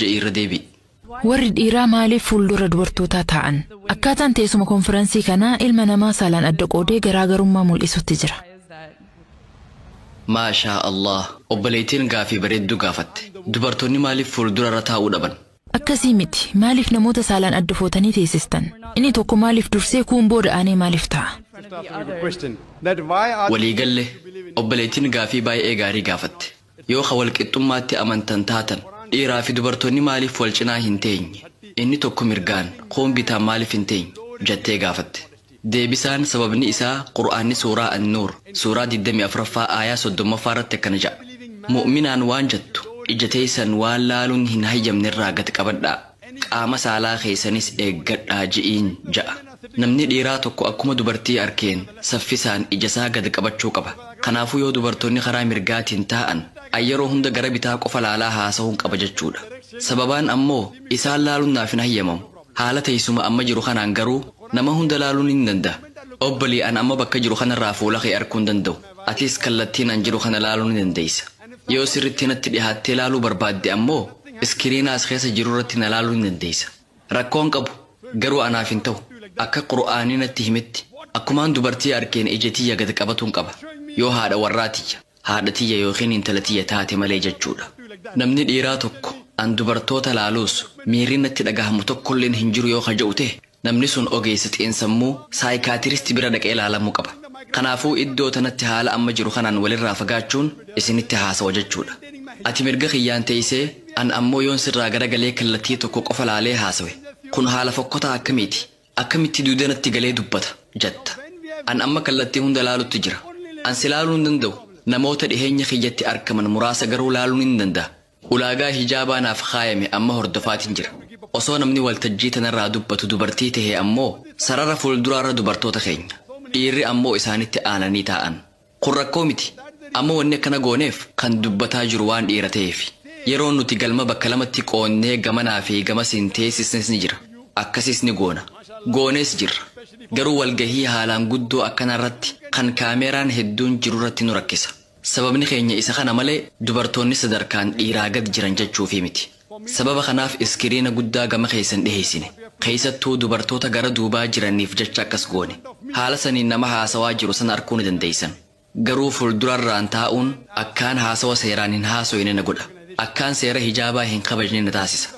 ja'ii irra deebi'i. Warri dhiiraa maaliif fuuldura dubartootaa taa'an? Akkaataan teessuma konfiransii kanaa ilma namaa saalaan adda qoodee garaa garummaa mul'isutti jira. Maashaa Allaah obboleeytiin gaafii bareedduu gaafatte. Dubartoonni maaliif fuuldura irra taa'uu dhaban? Akkasii miti, maaliif namoota saalaan adda footanii teessistan? Inni tokko maaliif dursee kuun booda aanee maaliif taa'a? Walii galle, obboleeytiin gaafii baay'ee gaarii gaafatte. Yoo ka wal qixxummaatti amantan taatan, dhiiraa fi dubartoonni maaliif wal cinaa hin teenye? Inni tokko mirgaan, kuun bitaan maaliif hin teenye? jattee gaafatte. Deebisaan, sababni isaa, Qur'aanni suuraa An-Nuur, suuraa 24ffaa aayah 30ffaa irratti akkana ja'a, Mu'minaan waan jattu, ija teeysan waan laaluun hin hayyamne irraa gad qabadhaa. Qaama saalaa keessanis eeggadhaa ji'iin ja'a. Namni dhiiraa tokko akkuma dubartii arkeen saffisaan ijasaa gad qabachuu qaba. Kanaafuu yoo dubartoonni karaa mirgaatiin taa'an an yeroo hunda gara bitaa qofa laalaa haasahuun qaba jechuudha. Sababaan ammoo isaan laaluun naaf hin hayyamamu. Haala teessuma amma jiru kanaan garuu nama hunda laaluu nin danda'a. Obbolee an amma bakka jiru kanarraa fuula kee arkuu hin danda'u. Atis kallattiin an jiru kana laaluu ni dandeessa. Yoo sirriitti natti dhihaattee laaluu barbaadde ammoo iskiriina as keessa jirurratti na laaluu ni dandeessa. Rakkoo hin qabu, garuu anaaf hin ta'u. Akka Qur'aanni natti himetti, akkumaan dubartii arkeen ija tiyya gad qabatuun qaba. Yoo haadha warraa tiyya, haadha tiyya yookiin intala tiyya taate malee jechuudha. Namni dhiiraa tokko an dubartoota laaluus miirri natti dhagahamu tokkolleen hin jiru yoo ka je'u ta'e, Namni sun ogeessa xiinsammuu, saayikaatirist, bira dhaqee ilaalamuu qaba. Kanaafuu iddoo tanatti haala amma jiru kanaan walirraa fagaachuun isinitti haasawa jechuudha. Ati mirga kiyyaan teeysee, an ammoo yoon sirraa garagalee kallattii tokko qofa laalee haasawe, kun haala fokkotaa akkamiiti? Akkamitti duuda natti galee dubbata? jatta. An amma kallattii hunda laalutti jira. An si laaluu hin danda'u, namoota dhiheenya kiyyatti arkaman muraasa garuu laaluu nin danda'a. Ulaagaa hijaabaa naaf kaayame amma hordofaatin jira. Osoo namni waltajjii tanarraa dubbatu dubartii tahe ammoo sarara fuulduraarra dubartoota keenya. Dhiirri ammoo isaanitti aananii taa'an. Kun rakkoo miti. Amma wanni akkana gooneef kan dubbataa jiru waan dhiira taheefi. Yeroo nuti galma bakka lamatti qoodnee gamanaa fi gamasiin teessisnes ni jira. Akkasiis ni goona. Goonees jirra. Garuu walgahii haalaan guddoo akkanaarratti kan kaameeraan hedduun jirurratti nu rakkisa. Sababni keenya isa kana malee dubartoonni sadarkaan dhiiraa gad jiran jechuufii miti. Sababa kanaaf iskiriina guddaa gama keessa hin dhiheessine. Keessattuu dubartoota gara duubaa jiraniif jecha akkas goone. Haala saniin nama haasawaa jiru san arkuu ni dandeessan. Garuu fuldurarraan taa'uun akkaan haasawa seeraan hin haasoyne na godha. Akkaan seera hijaabaa hin kabajne na taasisa.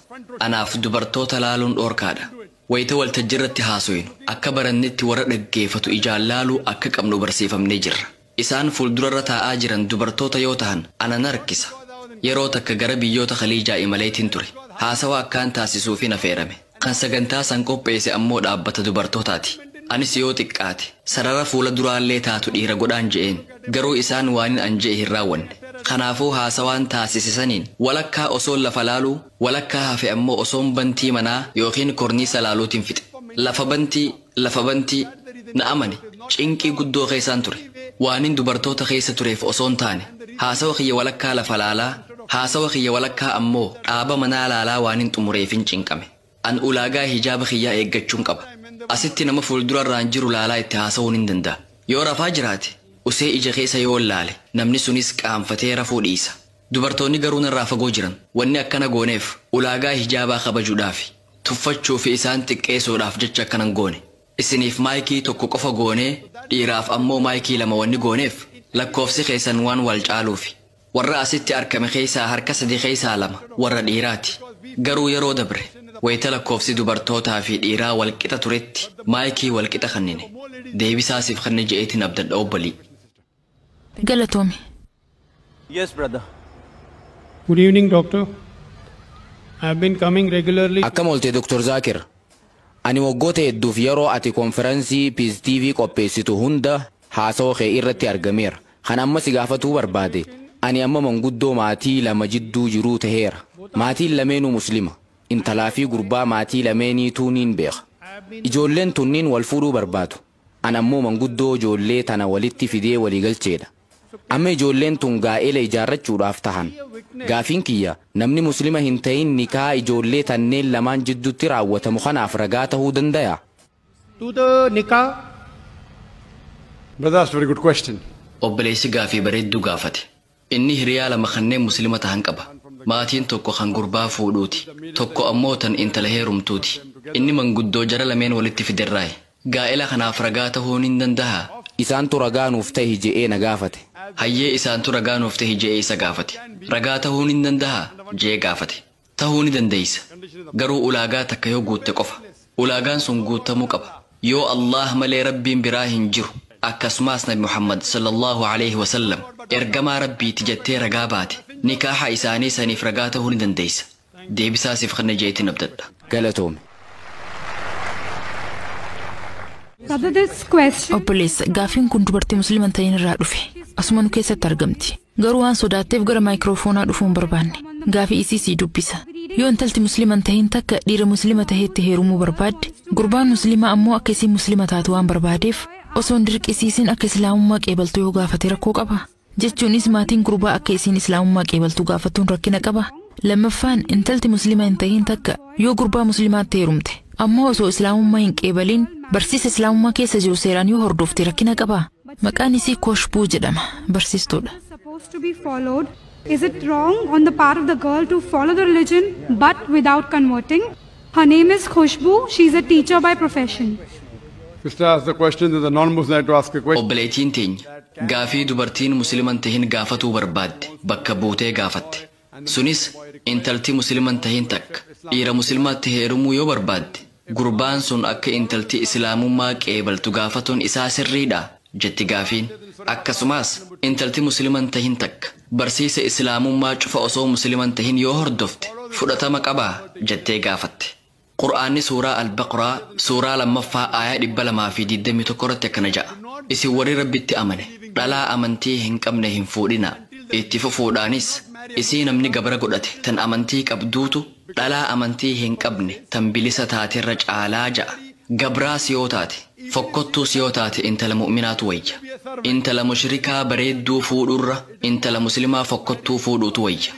Anaaf dubartoota laaluun dhoorkaadha. Wayta waltajjirratti haasoynu akka barannetti warra dhaggeefatu ijaan laaluu akka qabnu barsiifamnee jirra. Isaan fuuldurarra taa'aa jiran dubartoota yoo tahan ana na rakkisa. Yeroo takka gara biyyoota Khaliijaa imaleetin ture. Haasawa akkaan taasisuufin afeerame. Kan sagantaa san qopheese ammoo dhaabbata dubartootaati. Anis yoo xiqqaate sarara fuula duraallee taatu dhiira godhaan je'een. Garuu isaan waanin an je'e hin raawwanne. Kanaafuu haasawaan taasise saniin walakkaa osoon lafa laaluu, walakkaa hafe ammoo osoon bantii manaa ykn korniisa laaluutin fixe. Lafa bantii. lafa bantii na amani cinqii guddoo keessaan ture waanin dubartoota keessa tureef osoon taane haasawa kiyya walakkaa lafa laalaa haasawa kiyya walakkaa ammoo dhaaba manaa laalaa waanin xumureefin cinqame an ulaagaa hijaaba kiyyaa eeggachuun qaba asitti nama fuuldurarraan jiru laalaa itti haasawuu nin danda'a yoo rafaa jiraate usee ija keessa yoon laale namni sunis qaanfatee rafuu dhiisa dubartoonni garuu narraa fagoo jiran wanni akkana gooneef ulaagaa hijaabaa kabajudhaafi tuffachuu fi isaan xiqqeesuudhaaf jecha akkana hin goone. Isiniif maayikii tokko qofa goonee dhiiraaf ammoo maayikii lama wanni gooneef lakkoofsi keessan waan wal caaluufi. Warra asitti arkame keessaa harka sadi keessaa lama warra dhiiraati. Garuu yeroo dabre wayita lakkoofsi dubartootaa fi dhiiraa wal qixa turetti maayikii wal qixa kannine. Deebisaa siif kanne je'eetiin abdadha obbolii. Galatoomi. Yes brother. Good evening doctor. I have been coming regularly to Akkam olte Dr. Zakir? Ani waggoota hedduuf yeroo ati konfiransii Piz TV qopheessitu hunda haasawa kee irratti argameera. Kan amma si gaafatuu barbaade, ani amma manguddoo maatii lama jidduu jiruu taheera. Maatiin lameenuu Muslima. Intalaa fi gurbaa maatii lameeniituu niin beeka. Ijoolleen tunniin wal fuudhuu barbaadu. An ammoo manguddoo ijoollee tana walitti fidee walii galcheedha. Amma ijoolleen tun gaa'ela ijaarrachuudhaaf tahan. Gaafiin kiyya, namni Muslima hin tahin nikaha ijoollee tanneen lamaan jiddutti raawwatamu kanaaf ragaa tahuu dandayaa? to the nikah. Brother asked very good question. Obboleessi gaafii bareedduu gaafate. Inni hiriyaa lama kanneen Muslima tahan qaba. Maatiin tokko kan gurbaa fuudhuuti. Tokko ammoo tan intala heerumtuuti. Inni manguddoo jara lameen walitti fiderraayi. Gaa'ela kanaaf ragaa tahuu nin dandahaa? Isaantu ragaa nuuf tahi je'ee na gaafate. Hayyee isaantu ragaa nuuf tahi je'ee isa gaafate. Ragaa tahuu nin dandahaa? je'ee gaafate. Tahuu ni dandeeysa. Garuu ulaagaa takka yoo guutte qofa. Ulaagaan sun guuttamuu qaba. Yoo Allaah malee Rabbiin biraa hin jiru, akkasumaas Nabi Muhammad, Sallallaahu aleyhi wa sallam, Ergamaa Rabbiiti jattee ragaa baate, nikaaha isaanii saniif ragaa tahuu ni dandeeysa. Deebisaa siif kenne je'eetin abdadha. Galatoomi. Obboleessa, gaaffiin kun dubartii Muslima hin ta'in irraa dhufe. Asuma nu keessatti argamti. Garuu waan sodaatteef gara maayikiroofoonaa dhufuu hin barbaanne. Gaafii isii sii dubbisa. Yoo intalti muslima hin tahin takka dhiira muslima taheetti heerumuu barbaadde, gurbaan muslimaa ammoo akka isiin muslima taatu waan barbaadeef, osoo hin dirqisiisin akka islaamummaa qeebaltu yoo gaafate rakkoo qabaa? Jechuunis maatiin gurbaa akka isiin islaamummaa qeebaltu gaafatuun rakkina qabaa? Lammaffaan intalti muslima hin tahin takka yoo gurbaa muslimaatti heerumte, ammoo osoo islaamummaa hin qeebalin barsiisa islaamummaa keessa jiru seeraan yoo hordofte rakkina qabaa? Maqaan isii Koshbuu jedhama. Barsiistuudha. is supposed to be followed. Is it wrong on the part of the girl to follow the religion but without converting? Her name is Khushbu. She is a teacher by profession. Sister asked the question, then the non-Muslim had to ask a question. Obboleeytiin teenya gaafii dubartiin Muslima hin tahin gaafatuu barbaadde bakka buutee gaafatte. Sunis intalti muslima hin tahin takka dhiira muslimaatti heerumuu yoo barbaadde gurbaan sun akka intalti islaamummaa qeebaltu gaafatuun isaa sirriidhaa? jetti gaafiin. Akkasumaas intalti muslima hin tahin takka barsiisa islaamummaa cufa osoo muslima hin tahin yoo hordofte fudhatama qabaa? jettee gaafatte. Qur'aanni suuraa Al-Baqraa suuraa 2ffaa aayah 221 irratti akkana ja'a, Isin warri Rabbitti amane, dhalaa amantii hin qabne hin fuudhinaa. Itti fufuudhaanis, Isii namni gabra godhate tan amantii qabduutu dhalaa amantii hin qabne tan bilisa taaterra caalaa ja'a. Gabraas yoo taate. Fokkottuus yoo taate intala mu'minaatu wayya. Intala mushrikaa bareedduu fuudhurra intala muslimaa fokkottuu fuudhuutu wayya.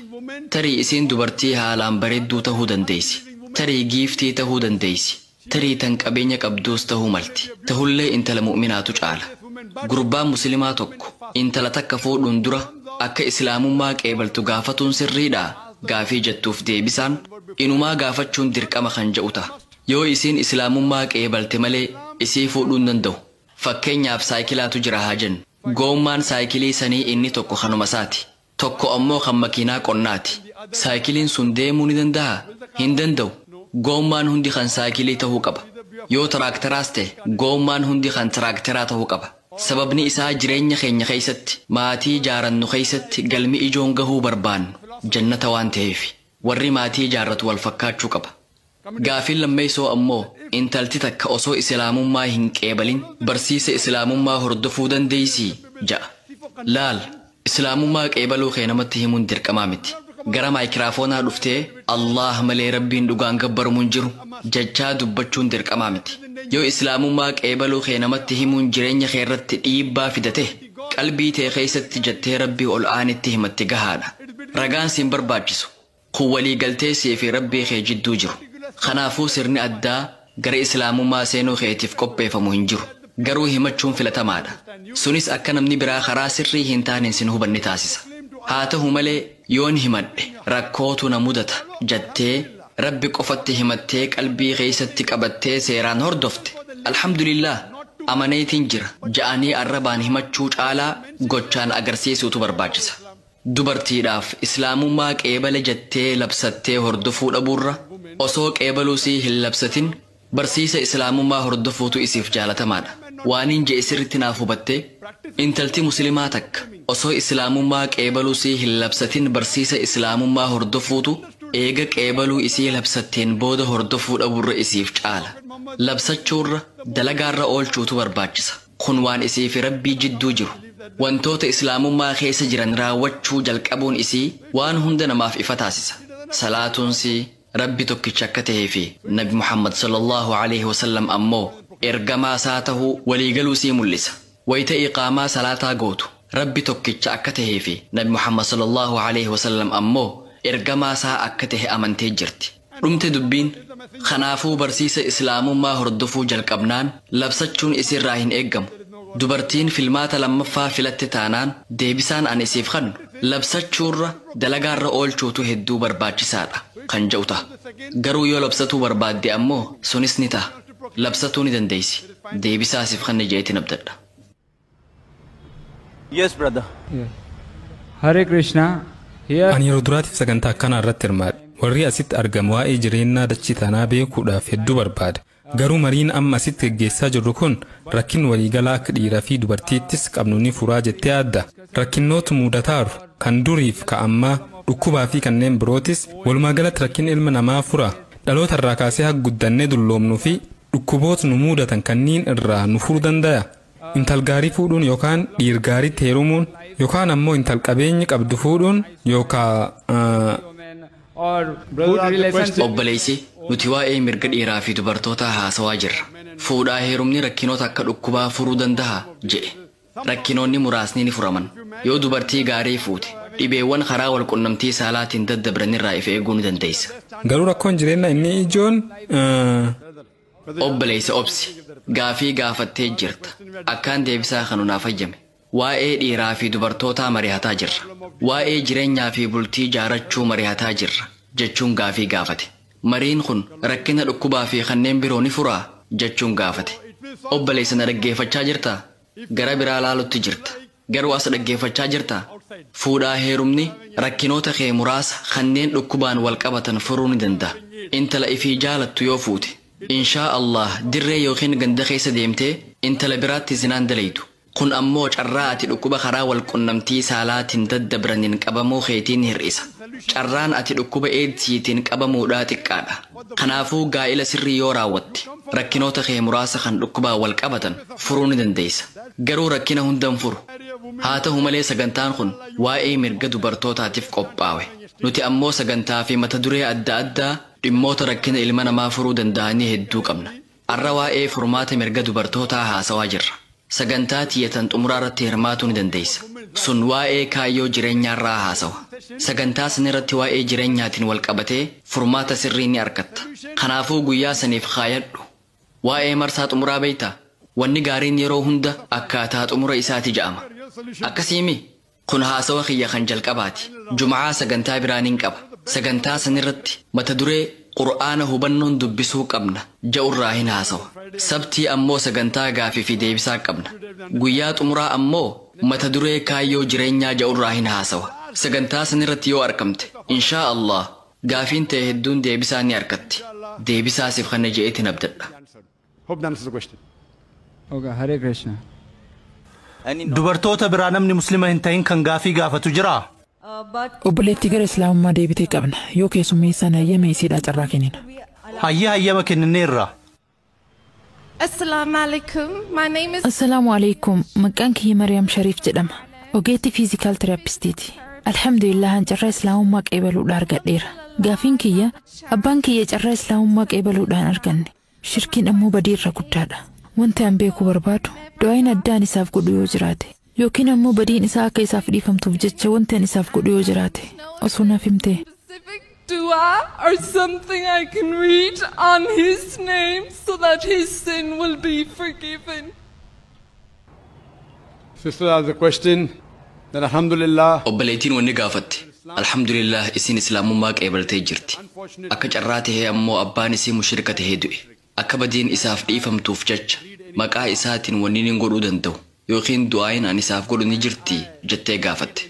Tarii isiin dubartii haalaan bareedduu tahuu dandeeysi. Tarii giiftii tahuu dandeeysi. Tarii tan qabeenya qabduus tahuu malti. Tahullee intala mu'minaatu caala. Gurbaan muslimaa tokko intala takka fuudhuun dura akka islaamummaa qeebaltu gaafatuun sirriidhaa? gaafii jettuuf deebisaan, inumaa gaafachuun dirqama kan ja'u taha. Yoo isiin islaamummaa qeebalte malee isii fuudhuu hin danda'u. Fakkeenyaaf saayikilaatu jira haa jennu. Goommaan saayikilii sanii inni tokko kanuma isaati. Tokko ammoo kan makiinaa qonnaati. Saayikiliin sun deemuu ni dandahaa? Hin danda'u. Goommaan hundi kan saayikilii ta'uu qaba. Yoo taraakteraas ta'e goommaan hundi kan tiraakteraa ta'uu qaba. Sababni isaa jireenya keenya keessatti, maatii jaarannu keessatti galmi ijoon gahuu barbaannu jannata waan ta'eefi. Warri maatii jaarratu wal fakkaachuu qaba. Gaafiin lammeeysoo ammoo, intalti takka osoo Isilaamummaa hin qeebalin barsiisa Isilaamummaa hordofuu dandeeysii? ja'a. Laal, Isilaamummaa qeebaluu kee namatti himuun dirqamaa miti. Gara maaykiraafoonaa dhuftee, Allaah malee Rabbiin dhugaan gabbaramu hin jiru, jechaa dubbachuun dirqamaa miti. Yoo Isilaamummaa qeebaluu kee namatti himuun jireenya kee irratti dhiibbaa fida tahe, qalbii tee keeysatti jettee Rabbii Ol'aanitti himatte gahaadha. Ragaan si hin barbaachisu. Kun waliigaltee sii fi Rabbii kee jidduu jiru. Kanaafuu sirni addaa gara Islaamummaa seenuu keetiif qopheeffamu hin jiru. Garuu himachuun filatamaadha. Sunis akka namni biraa karaa sirrii hin taaneen sin hubanne taasisa. Haa tahu malee yoon himadhe rakkootu na mudata jattee Rabbi qofatti himattee qalbii keessatti qabattee seeraan hordofte, Alhamdulillaah! Amaneetiin jira ja'anii arrabaan himachuu caalaa gochaan agarsiisuutu barbaachisa. Dubartiidhaaf Islaamummaa qeebale jettee labsattee hordofuu dhabuurra, osoo qeebaluu sii hin labsatin barsiisa Islaamummaa hordofuutu isiif jaalatamaadha. Waaniin je'e sirritti naaf hubattee? Intalti Muslimaa takka osoo Islaamummaa qeebaluu sii hin labsatin barsiisa Islaamummaa hordofuutu eega qeebaluu isii labsatteen booda hordofuu dhabuurra isiif caala. Labsachuurra, dalagaarra oolchuutu barbaachisa. Kun waan isii fi Rabbii jidduu jiru. Wantoota Islaamummaa keessa jiran raawwachuu jalqabuun isii waan hunda namaaf ifa taasisa. Salaatuunsii, Rabbi tokkicha akka tahee fi Nabi Muhammad sallallaahu aleyhi wa sallam ammoo Ergamaa Isaa tahuu walii galuu isii mul'isa. Wayta iqaamaa salaataa gootu, Rabbi tokkicha akka tahee fi Nabi Muhammad sallallaahu aleyhi wa sallam ammoo Ergamaa Isaa akka tahe amantee jirti. dhumte dubbiin. Kanaafuu barsiisa Islaamummaa hordofuu jalqabnaan labsachuun isiirraa hin eeggamu. Dubartiin filmaata lammaffaa filatte taanaan deebisaan an isiif kannu labsachuurra dalagaarra oolchuutu hedduu barbaachisaadha kan ja'u taha. Garuu yoo labsatuu barbaadde ammoo sunis ni taha. Labsatuu ni dandeessi. Deebisaa siif kanne ja'eetin abdadha. Yes, brother. Hare Krishna. Here Ani yeroo duraatiif sagantaa akkanaa irratti hirmaadhe. Warri asitti argamu waa'ee jireennaa dachii tanaa beekuudhaaf hedduu barbaada. Garuu mariin amma asitti geggeessaa jirru kun rakkin waliigalaa akka dhiiraa fi dubartiittis qabnu ni furaa jettee yaadda. Rakkinnoota muudataaru kan duriif ka ammaa dhukkubaa fi kanneen birootis walumaa galatti rakkin ilma namaa furaa. Dhaloota irraa kaasee hag guddannee dulloomnu fi dhukkuboot nu muudatan kanniin irraa nu furu dandaya. Intal gaarii fuudhuun yookaan dhiir gaariitti heerumuun yookaan ammoo intal qabeenyi qabdu fuudhuun yookaa Obboleessi, nuti waa'ee mirga dhiiraa fi dubartootaa haasawaa jirra. Fuudhaa heerumni rakkinoota akka dhukkubaa furuu dandahaa? jedhe. Rakkinoonni muraasni ni furaman. Yoo dubartii gaarii fuute, dhibeewwan karaa wal qunnamtii saalaatiin daddabranirraa if eeguu ni dandeessa. Garuu rakkoon jireennaa inni ijoon. Obboleeysa obsi gaafii gaafattee jirta akkaan deebisaa kanu naaf hayyami waa'ee dhiiraa fi dubartootaa marihataa jirra waa'ee jirenyaa fi bultii jaarachuu marihataa jirra jachuun gaafii gaafate mariin kun rakkina dhukkubaa fi kanneen biroo ni furaa jachuun gaafate obboleeysa na dhaggeefachaa jirtaa Gara biraa laalutti jirta. Garuu as dhaggeeffachaa jirtaa? Fuudhaa heerumni rakkinoota kee muraasa kanneen dhukkubaan wal qabatan furuu ni danda'a. Intala ifii jaalattu yoo fuute, inshaa Allaah dirree ykn ganda keessa deemtee intala biraatti zinaa hin dalaydu. Kun ammoo carraa ati dhukkuba karaa wal qunnamtii saalaatiin daddabraniin qabamuu keetii ni hir'isa. Carraan ati dhukkuba Eedsiitiin qabamuudhaa xiqqaadha. Kanaafuu gaa'ila sirrii yoo raawwatte rakkinoota kee muraasa kan dhukkubaan wal qabatan furuu ni dandeessa. Garuu rakkina hunda hin furu. Haa ta'u malee sagantaan kun waa'ee mirga dubartootaatif qophaawe. Nuti ammoo sagantaa fi mata duree adda addaa dhimmoota rakkina ilma namaa furuu danda'anii hedduu qabna. Arra waa'ee furmaata mirga dubartootaa haasawaa jirra. Sagantaa tiyya tan xumuraarratti hirmaatuu ni dandeessa. Sun waa'ee kaayyoo jireenyaarraa haasawa. Sagantaa sanirratti waa'ee jireenyaatiin wal qabatee furmaata sirrii ni arkatta. Kanaafuu guyyaa saniif kaayadhu. Waa'ee marsaa xumuraa beektaa? Wanni gaariin yeroo hunda akkaataa xumura isaati ja'ama. Akkasii mii? Kun haasawa kiyya kan jalqabaati. Jum'aa sagantaa biraa nin qaba. Sagantaa sanirratti mata duree Qur'aana hubannoon dubbisuu qabna ja'urraahin haasawa. Sabtii ammoo sagantaa gaafii fi deebisaa qabna. Guyyaa xumuraa ammoo mata duree Kaayyoo Jireenyaa ja'urraahin haasawa. Sagantaa sanirratti yoo arkamte, inshaa Allaah, gaafiin tee hedduun deebisaa ni arkatti. Deebisaa sif kanna je'eetin abdadha. Hope that answers the question. Okay, Hare Krishna. Dubartoota biraa namni muslima hin tahin kan gaafii gaafatu jiraa? Obboleettii gara Islaamummaa deebitee qabna. Yoo keessummeessaan hayyame isiidhaa carraa kennina. Hayyee hayyama kennineerra. Assalamu alaikum. My name is Assalaamu alaikum. Maqaan kiyya Mariyaam Shariif jedhama. Ogeettii fiizikaal terapistiiti. Alhamdulillah an carraa Islaamummaa qeebaluudhaan argadheera. Gaafiin kiyya abbaan kiyya carraa Islaamummaa qeebaluudhaan arganne. Shirkiin ammoo badii irra guddaadha. Wanti an beekuu barbaadu, du'aayin addaa an isaaf godhu yoo jiraate, yookiin ammoo badiin isaa akka isaaf dhiifamtuuf jecha wanti an isaaf godhu yoo jiraate, osoo naaf himtee. specific dua or something I can read on his name so that his sin will be forgiven. Sister asked the question that Alhamdulillah, Obboleettiin wanni gaafatte, Alhamdulillaah isiin Islaamummaa qeebaltee jirti. Akka carraa tahee ammoo abbaan isii mushrika tahee du'e. Akka badiin isaaf dhiifamtuuf jecha, maqaa isaatiin wanni nin godhuu dandahu yookiin du'aa'iin an isaaf godhu ni jirtii? jettee gaafatte.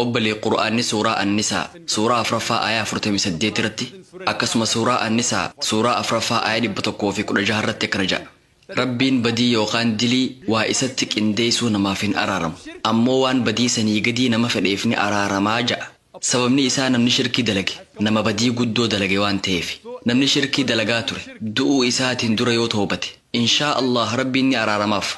Obbolee, Qur'aanni Suuraa An-Nisaa Suuraa afraffaa aayah afurtamii saddeet irratti, akkasuma Suuraa An-Nisaa Suuraa afraffaa aayah dhibba tokkoo fi kudha jaha irratti akkana ja'a. Rabbiin badii yookaan dilii waa isatti qindeessuu namaaf hin araaramu. Ammoo waan badii sanii gadii nama fedheef ni araarama ja'a. Sababni isaa namni shirkii dalage nama badii guddoo dalage waan taheefi. Namni shirkii dalagaa ture du'uu isaatiin dura yoo tawbate in shaa Allaah Rabbiin ni araaramaaf.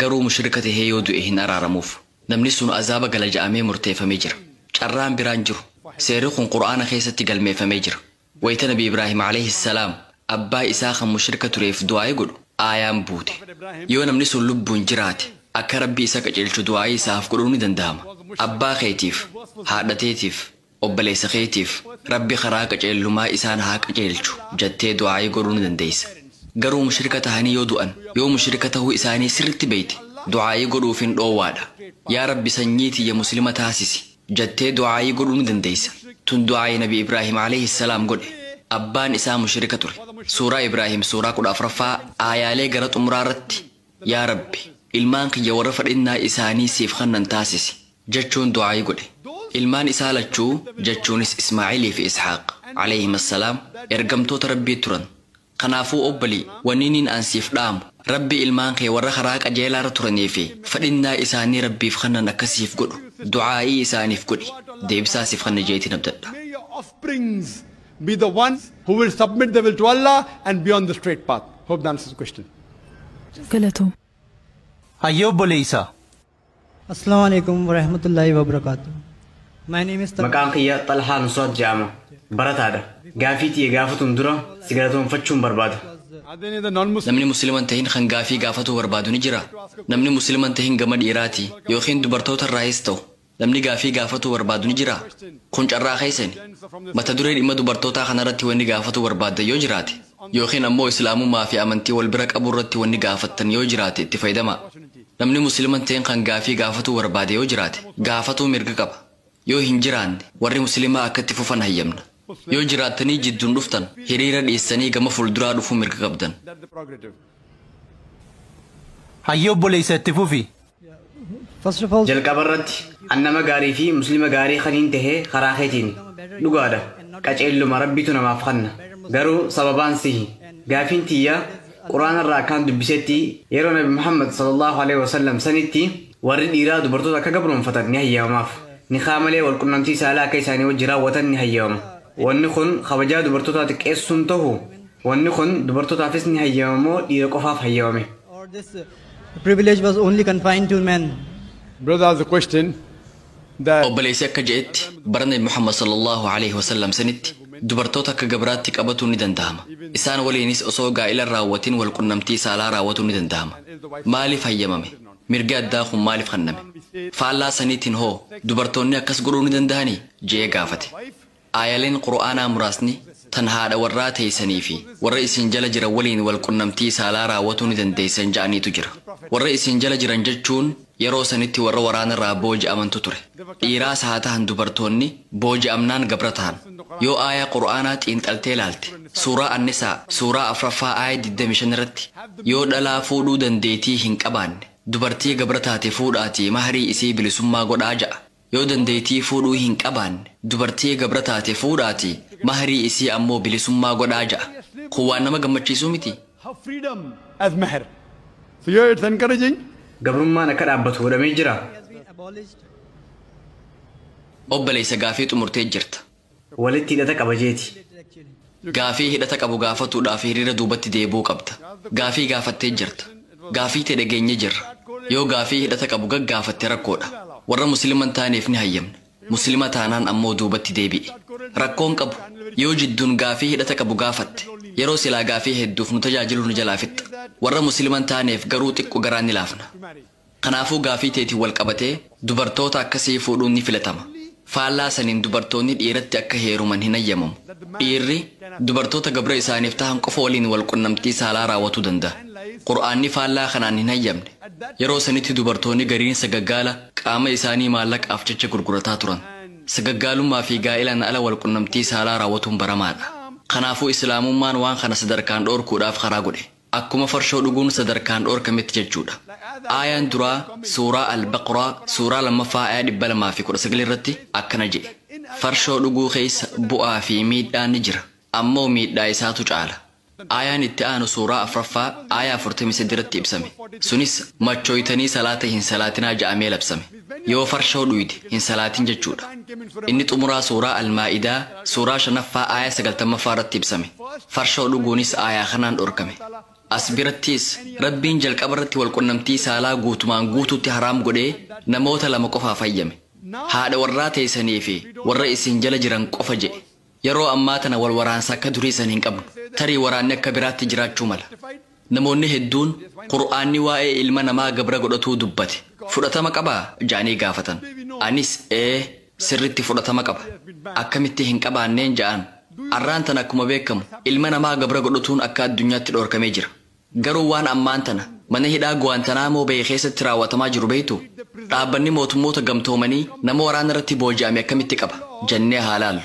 Garuu mushrika tahee yoo du'e hin araaramuuf. Namni sun azaaba gala ja'amee murteeffamee jira. Carraan biraa hin jiru. Seerri kun Qur'aana keessatti galmeeffamee jira. Wayta Nabi Ibraahim Aleyhi salaam abbaa isaa kan mushrika tureef du'aayi godhu aayaan buute. Yoo namni sun lubbuun jiraate akka Rabbi isa qaceelchu du'aayi isaaf godhuun ni danda'ama. Abbaa keetiif, haadha teetiif, obboleessa keetiif Rabbi karaa qaceellumaa isaan haa qaceelchu jattee du'aayi godhuu ni dandeeysa. Garuu mushrika tahanii yoo du'an, yoo mushrika tahuu isaanii sirritti beeyte du'aayi godhuufiin dhoowwaadha. Yaa Rabbi sanyii tiyya muslima taasisi. jattee du'aa'ii godhuu ni dandeeysa. Tun du'aa'ii nabi Ibraahiim aleyhi salaam godhe. Abbaan isaa mushrika ture. Suuraa Ibraahiim suuraa 14ffaa aayaalee gara xumuraa irratti Yaa Rabbi! Ilmaan kiyya warra fadhinnaa isaanii siif kannan taasisi jachuun du'aa'ii godhe. Ilmaan isaa lachuu jachuunis Ismaa'ilii fi Ishaaq, aleyhima salaam, ergamtoota Rabbii turan. Kanaafuu obbolii, wanniiniin an siif dhaamu, Rabbi ilmaan kee warra karaa qajeelaarra turanii fi fedhinnaa isaanii Rabbiif kannan akka siif godhu du'aa'ii isaaniif godhi, deebisaa siif kanna je'eetiin abdadha. May your offsprings be the one who will submit the will to Allah and be on the straight path. Hope that answers the question. Galatoomi. Hayyee obboleeysa! Assalamu alaikum warahmatullahi wabarakatuh. My name is Talha. Maqaan kiyya Xalhaa Nusrat jedhama. Barataadha. Gaafii tiyya gaafatuun dura si galatoomfachuun barbaada. Are there any other non-Muslims? Namni Muslima hin tahin kan gaafii gaafatuu barbaadu ni jira? Namni Muslima hin tahin gama dhiiraati ykn dubartoota irraahis ta'u namni gaafii gaafatuu barbaadu ni jira? Kun carraa keessani. Mata duree dhimma dubartootaa kanarratti wanni gaafatuu barbaaddan yoo jiraate. Yookiin ammoo Islaamummaa fi amantii wal bira qabuu irratti wanni gaafattan yoo jiraate itti fayydamaa. Namni Muslima hin ta'in kan gaafii gaafatuu barbaade yoo jiraate, gaafatuu mirga qaba. Yoo hin jiraanne, warri Muslimaa akka itti fufan hayyamna. Yoo jiraattanii jidduun dhuftan, hiriira dhiistanii gama fulduraa dhufuu mirga qabdan. Hayyee obboleessa itti fufi. Jalqabarratti, an nama gaarii fi Muslima gaarii kaniin tahe karaa keetiini. Dhugaadha, qaceelluma Rabbitu namaaf kanna. Garuu sababaan sihi. Gaafiin tiyya, Qur'aanarraa akkaan dubbisetti, yeroo Nabi Muhammad, Sallallaahu aleyhi wa sallam, sanitti warri dhiiraa dubartoota akka gabroomfatan ni hayyamamaaf. Nikaah malee wal qunnamtii saalaa akka isaanii wajji raawwatan ni hayyamama. Wanni kun kabajaa dubartootaa xiqqeessu hin tahu? Wanni kun dubartootaafis ni hayyamama moo dhiira qofaaf hayyamame? The privilege was only confined to men. Brother asked the question that Obboleessi akka je'etti bara Nabi Muhammad sallallahu aleyhi wasallam sanitti dubartoota akka gabraatti qabatuun ni dandahama. Isaan waliinis osoo gaa'ila hin raawwatin wal qunnamtii saalaa raawwatuun ni dandahama. Maaliif hayyamame? Mirgi addaa kun maaliif kanname? Faallaa saniitin hoo dubartoonni akkas godhuu ni dandahanii? je'ee gaafate. Aayaleen Qur'aanaa muraasni tan haadha warraa teeysanii fi warra isin jala jiran waliin wal qunnamtii saalaa raawwatuu ni dandeeysan ja'aniitu jira. Warra isin jala jiran jechuun yeroo sanitti warra waraanarraa booji'amantu ture. Dhiiraas haa tahan dubartoonni booji'amnaan gabra tahan. Yoo aayaa Qur'aanaa xiinxaltee laalte, Suuraa An-Nisaa, Suuraa 4ffaa aaya 25 irratti, Yoo dhalaa fuudhuu dandeeytii hin qabaanne, dubartii gabra taate fuudhaatii mahrii isii bilisummaa godhaa ja'a. Yoo dandeeytii fuudhuu hin qabaanne, dubartii gabra taate fuudhaatii, mahrii isii ammoo bilisummaa godhaa ja'a. Kun waan nama gammachiisuu mitii? Gabrummaan akka dhaabbatu godhamee jiraa? Obboleeysa gaafii xumurtee jirta. walitti hidhata qaba jeeti. Gaafii hidhata qabu gaafatuudhaaf hiriira duubatti deebi'uu qabda. Gaafii gaafattee jirta. Gaafii tee dhageenye jirra. Yoo gaafii hidhata qabu gaggaafatte rakkoodha. Warra Muslima hin taaneef ni hayyamna. Muslima taanaan ammoo duubatti deebi'i. Rakkoo hin qabu. Yoo jidduun gaafii hidhata qabu gaafatte, yeroo silaa gaafii hedduuf nu tajaajilu nu jalaa fixxa. Warra Muslima hin taaneef garuu xiqqo garaa ni laafna. Kanaafuu gaafii teetiin wal qabatee dubartoota akkasii fuudhuun ni filatama. Faallaa saniin dubartoonni dhiiratti akka heeruman hin hayyamamu. Dhiirri dubartoota gabra isaaniif tahan qofa waliin wal qunnamtii saalaa raawwatuu dandaha. Qur'aanni faallaa kanaan hin hayyamne. Yeroo sanitti dubartoonni gariin sagaggaala qaama isaanii maallaqaaf jecha gurgurataa turan. Sagaggaalummaa fi gaa'elaan ala wal qunnamtii saalaa raawwatuun baramaadha. Kanaafuu Islaamummaan waan kana sadarkaan dhoorkuudhaaf karaa godhe. Akkuma farshoo dhuguun sadarkaan dhoorkametti jechuudha. Aayaan duraa Suuraa Al-Baqraa Suuraa 2ffaa Aayah 219 irratti akkana je'e, Farshoo dhuguu keessa bu'aa fi miidhaan ni jira, ammoo miidhaa isaatu caala. Aayaan itti aanu Suuraa 4ffaa Aayah 43 irratti ibsame. Sunis machooytanii salaata hin salaatinaa ja'amee labsame. Yoo farshoo dhuyde hin salaatin jechuudha. Inni xumuraa suuraa Al-Maa'idaa suuraa 5ffaa aayah 90ffaa irratti ibsame. Farshoo dhuguunis aayah kanaan dhorkame. As birattis, Rabbiin jalqaba irratti wal qunnamtii saalaa guutumaan guutuutti haraam godhee namoota lama qofaaf hayyame. Haadha warraa teeysanii fi warra isin jala jiran qofa je'e. Yeroo ammaa tana wal waraansa akka durii san hin qabnu. Tarii waraanni akka biraatti jiraachuu mala. Namoonni hedduun, Qur'aanni waa'ee ilma namaa gabra godhatuu dubbate, fudhatama qabaa? ja'anii gaafatan. Anis, Ee, sirritti fudhatama qaba. Akkamitti hin qabaanneen ja'aan. Arraan tana akkuma beekkamu, ilma namaa gabra godhatuun akka addunyaatti dhoorkamee jira. Garuu waan ammaan tana mana hidhaa Guwaantanaamoo Beey keessatti raawwatamaa jiru beektuu? Dhaabbanni Mootummoota Gamtoomanii nama waraana irratti booji'ame akkamitti qaba? jennee haa laallu.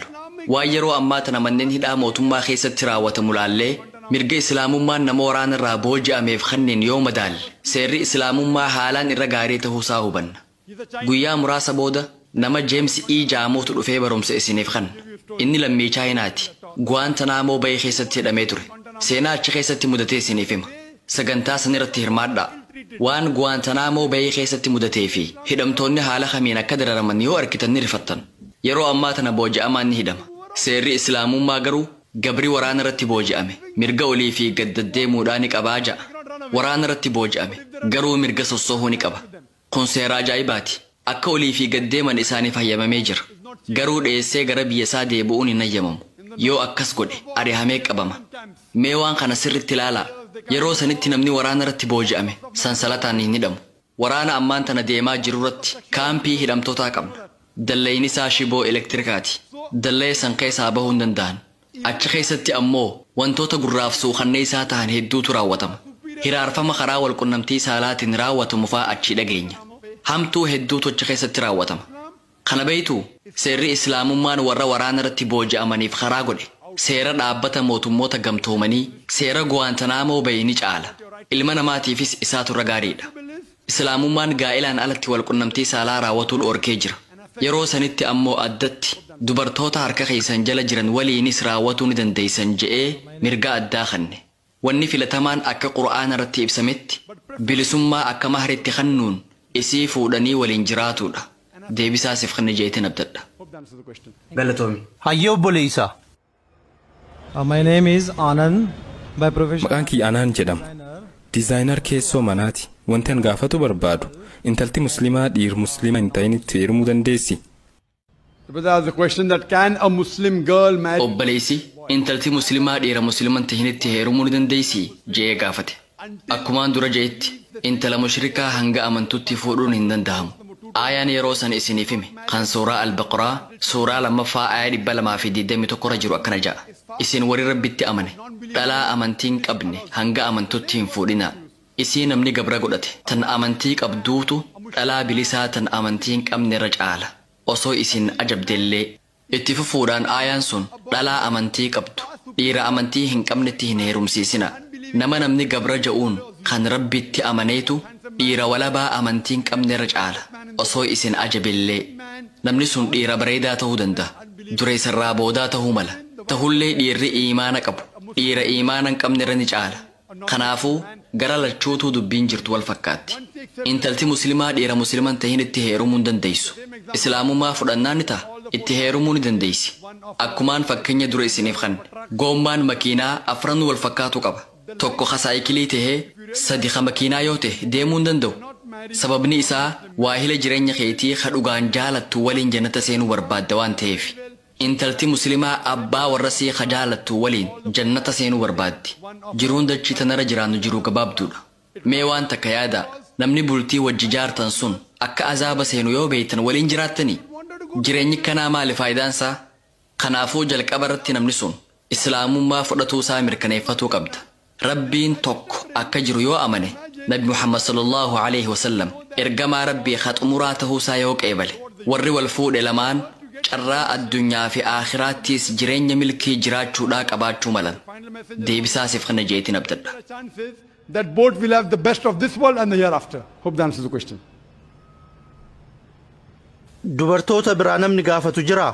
Waan yeroo ammaa tana manneen hidhaa mootummaa keessatti raawwatamu laallee mirga Islaamummaan nama waraana irraa booji'ameef kanniin yoo madaalle seerri Islaamummaa haalaan irra gaarii tahuu isaa hubanna. Guyyaa muraasa booda nama James E. Jaamuutu dhufee barumsa isiniif kanna. Inni lammii Chaayinaati. Guwaantanaamoo Bay keessatti hidhamee ture. Seenaa achi keessatti mudate isiniif hima. Sagantaa sanirratti hirmaadhaa. Waan Guwaantanaamoo Bay keessatti mudatee fi hidhamtoonni haala kamiin akka dararaman yoo arkitan ni rifattan. Yeroo ammaa tana booji'amaan ni hidhama. Seerri Islaamummaa garuu gabri waraanarratti booji'ame mirga olii fi gad daddeemuudhaa ni qabaa ja'a. Waraanarratti booji'ame garuu mirga sossohuu ni qaba. Kun seera ajaa'ibaati. Akka olii fi gad deeman isaaniif hayyamamee jira. Garuu dheessee gara biyya isaa deebi'uun hin hayyamamu. Yoo akkas godhe ari'amee qabama. Mee waan kana sirriitti ilaalaa. Yeroo sanitti namni waraana irratti booji'ame sansalataan hin hidhamu. Waraana ammaan tana deemaa jiru irratti kaampii hidhamtootaa qabna. Dallayni isaa shiboo elektirikaati. Dallaya san keessaa bahuu hin danda'an. Achi keessatti ammoo wantoota gurraaf suukanneessaa tahan hedduutu raawwatama. Hiraarfama karaa walqunnamtii saalaatiin raawwatamu faa achii dhageenya. Hamtuu hedduutu achi keessatti raawwatama. Kana beektuu? Seerri Islaamummaan warra waraanarratti booji'amaniif karaa godhe, seera Dhaabbata Mootummoota Gamtoomanii, seera Guwaantanaamoo Beey ni caala. Ilma namaatiifis isaatu irra gaariidha. Islaamummaan gaa'elaan alatti walqunnamtii saalaa raawwatuu dhoorkee jira. Yeroo sanitti ammoo addatti dubartoota harka keessan jala jiran waliinis raawwatuu ni dandeessan je'ee mirga addaa kanne. Wanni filatamaan akka Qur'aanarratti ibsametti bilisummaa akka mahritti kannuun isii fuudhanii waliin jiraatuudha. Deebisaa siif kanne je'eetin abdadha. Galatoomi. Hayyee obboleeysa! Uh, my name is Anand. By profession, Maqaan kiyya Anaan jedhama. Dizaayinar keessoo manaati. Wanti an gaafatu barbaadu intalti muslimaa dhiir muslima hin ta'initti heerumuu dandeessi? But that's the question that can a Muslim girl marry? Obboleessi intalti muslimaa dhiira muslima hin ta'initti heerumuu ni dandeessi? je'ee gaafate. Akkumaan dura je'etti, intala mushrikaa hanga amantutti fuudhuun hin dandahamu. Aayaan yeroo san isiniif hime, kan suuraa Al-Baqraa, suuraa 2ffaa aayah 221 irra jiru akkana ja'a, Isin warri Rabbitti amane, dhalaa amantii hin qabne hanga amantutti hin fuudhinaa. Isii namni gabra godhate, tan amantii qabduutu, dhalaa bilisaa tan amantii hin qabne irra caala, osoo isin ajabdellee. Itti fufuudhaan aayaan sun dhalaa amantii qabdu dhiira amantii hin qabnetti hin heerumsiisinaa. Nama namni gabra ja'uun kan Rabbitti amaneetu dhiira walabaa amantii hin qabnerra caala. Osoo isin ajabellee. Namni sun dhiira bareedaa tahuu dandaha. Dureessa irraa boodaa tahuu mala. Tahullee dhiirri iimaana qabu dhiira iimaana hin qabnerra ni caala. Kanaafuu, gara lachuutuu dubbiin jirtu wal fakkaatti. Intalti Muslimaa dhiira Muslima hin tahinitti heerumuu hin dandeessu. Islaamummaa fudhannaan ni taha, itti heerumuu ni dandeessi. Akkumaan fakkenya dura isiniif kanne. Goommaan makiinaa afranuu wal fakkaatuu qaba. Tokko ka saayikilii tahee, sadi ka makiinaa yoo tahe deemuu hin danda'u. Sababni isaa, waahila jirenya keetii ka dhugaan jaalattu waliin jannata seenuu barbaadda waan taheefi. Intalti muslimaa abbaa warrasii ka jaalattu waliin jannata seenuu barbaaddi. Jiruun dachii tanarra jiraannu jiruu gabaabduudha. Mee waan takka yaadaa, namni bultii wajji jaartan sun akka azaaba seenu yoo beeytan waliin jiraattanii? Jireenyikkanaa maali faayidaansaa? Kanaafuu jalqabarratti namni sun islaamummaa fudhatuusaa mirkaneeffatuu qabda. Rabbiin tokko akka jiru yoo amane, Nabi Muhammad sallallaahu aleyhi wasallam ergamaa Rabbii ka xumuraa tahuu isaa yoo qeebale, warri wal fuudhe lamaan carraa addunyaa fi aakhiraattiis jireenya milkii jiraachuudhaa qabaachuu malan. Deebisaa siif kenna je'eetiin abdadha. that both will have the best of this world and the hereafter. Hope that answers the question. Dubartoota biraa namni gaafatu jiraa?